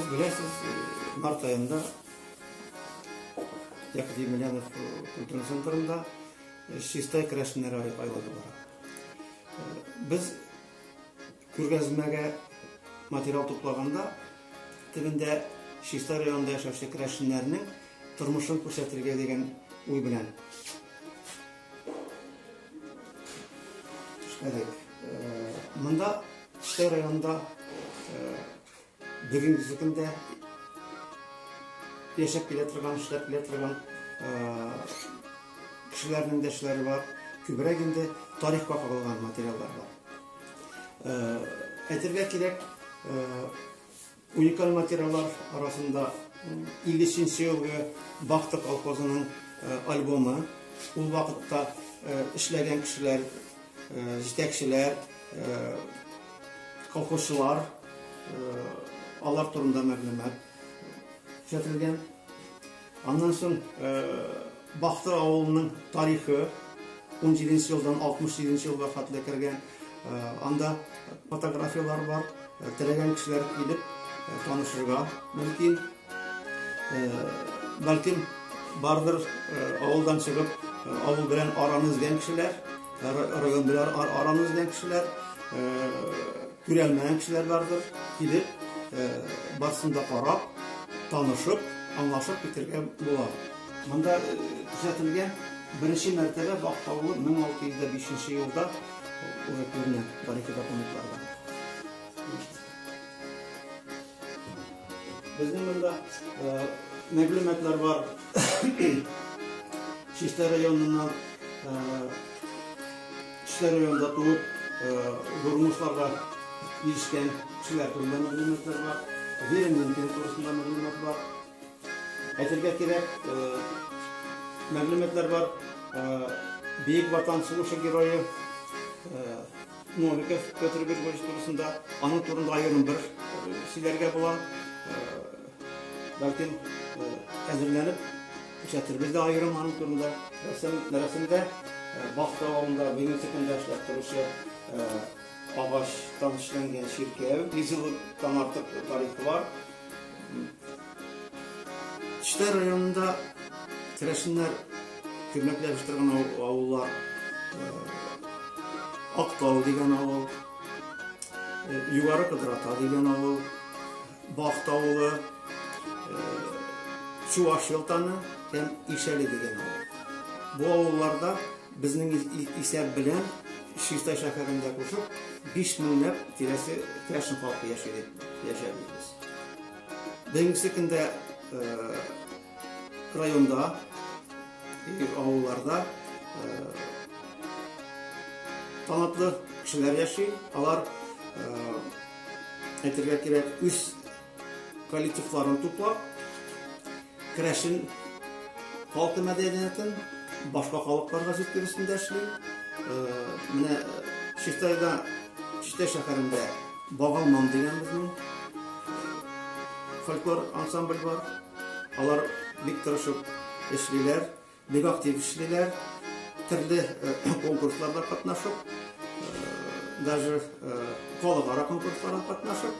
Беләсез, март айында Яков Емельянов культура центрында чистай керәшеннәр айлыгы бара. Без Күргәзмәгә материал туплаганда, төбендә Чистай районында яшәүче керәшеннәрнең тормышын күрсәтергә дигән уй белән эшләдек. Монда Чистай районында Бүгенге көндә яшәп килә торган, эшләп килә торган кешеләрнең дә эшләре бар. Күбрәк инде тарихка кагылган материаллар бар. Әйтергә кирәк, уникаль материаллар арасында 53 елгы Бахта колхозының альбомы. Ул вакытта эшләгән кешеләр, җитәкчеләр, Колхозчылар, алар турында мәгълүмат күрсәтелгән. Аннан соң Бахты авылының тарихы 17 елдан 68 елга хәтле кергән. Анда фотографияләр бар. Теләгән кешеләр килеп танышырга мөмкин. Бәлки бардыр авылдан чыгып, авыл белән араны үзгән кешеләр, район белән араны үзгән кешеләр, күрәлмәгән кешеләр бардыр. Килеп, барсын да карап, танышып, аңлашып китергә була. Монда күрсәтелгән беренче мәртәбә Бактаулы 1605 елда уже күренә тарихи документларда. Безнең монда мәгълүматлар бар. Чишта районыннан Чишта районында туып, Гурмусларга ирешкән кешеләр турында мәгълүматлар бар. Вера Минкина турында мәгълүмат бар. Әйтергә кирәк, мәгълүматлар бар. Бөек Ватан сугышы герое Новиков Петр Григорьевич турысында, аның турында аерым бер сөйләргә була. Бәлкем әзерләнеп күрсәтербез дә аерым аның турында. Рәсемдә Бахта авылында бүгенге көндә эшләп торучы агачтан эшләнгән чиркәү. Йөз елдан артык тарихы бар. Чита районында керәшеннәр күмәкләп үстерген авыллар Актау дигән авыл, Югары Кыдрата дигән авыл, Бахт авылы, Чуваш елтаны һәм Ишәле дигән авыл. Бу авылларда Безнең исәп белән Чистай шәһәрендә кушып, биш меңләп тирәсе керәшен халкы яши дип яшәбез без. Бүгенге көндә районда, авылларда талантлы кешеләр яши. Алар әйтергә кирәк, үз коллективларын туплап, керәшен халкы мәдәниятен башка халыкларга җиткерүсен дә эшли. Э, менә Чистайда, Чистай шәһәрендә Багалман дигән безнең фольклор ансамбль бар. Алар бик тырышып эшлиләр. Бик актив эшлиләр. Төрле конкурсларда катнашып, даже халыкара конкурсларда катнашып,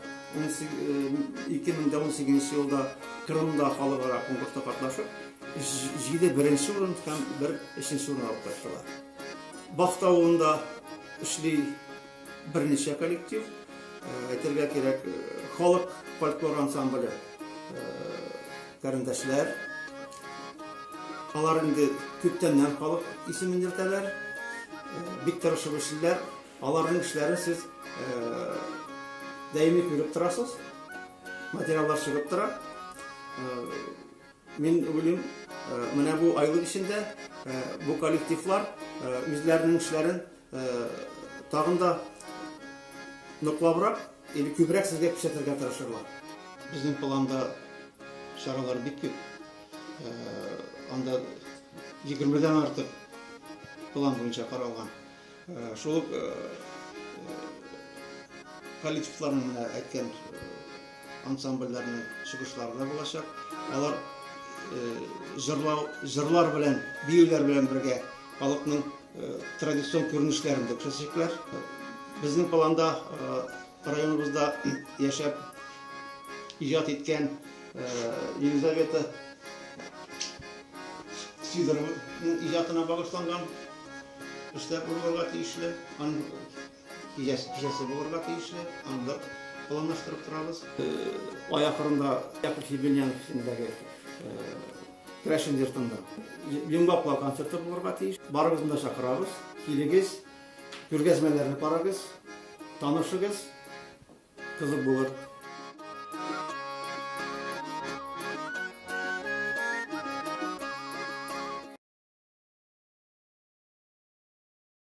2018 елда Кырымда халыкара конкурста катнашып, җиде беренче урын һәм бер өченче урын алып кайттылар. Бахта авылында эшли берничә коллектив. Әйтергә кирәк, халык фольклор ансамбле. Карендәшләр. Алар инде күптәннән халык исемен йөртәләр. Бик тырышып эшлиләр. Аларның эшләрен сез даими күреп торасыз. Материаллар чыгып тора. Мин уйлыйм, менә бу айлык эчендә бу коллективлар үзләренең эшләрен Тагын да ныклабрак, или күбрәк сезгә күрсәтергә тырышырлар. Безнең планда чаралар бик күп. Анда 20 дән артык план буенча каралган. Шул коллективларның әйткән Ансамбльләрнең чыгышлары да булачак. Алар җырлау, җырлар белән, биюләр белән бергә халыкның традицион күренешләрен дә күрсәтәчәкләр. Безнең планда районыбызда яшәп иҗат иткән Елизавета Сидорованың иҗатына багышланган эшләр булырга тиешле. Киләсе кичәсе булырга тиешле, андыр планлаштырып торабыз. Ай ахырында Яков Ебельянов исемендәге Крәшен йортында Йомгаклау концерты булырга тиеш. Барыбызны да чакырабыз. Килегез, күргәзмәләрне карагыз, танышыгыз, кызык булыр.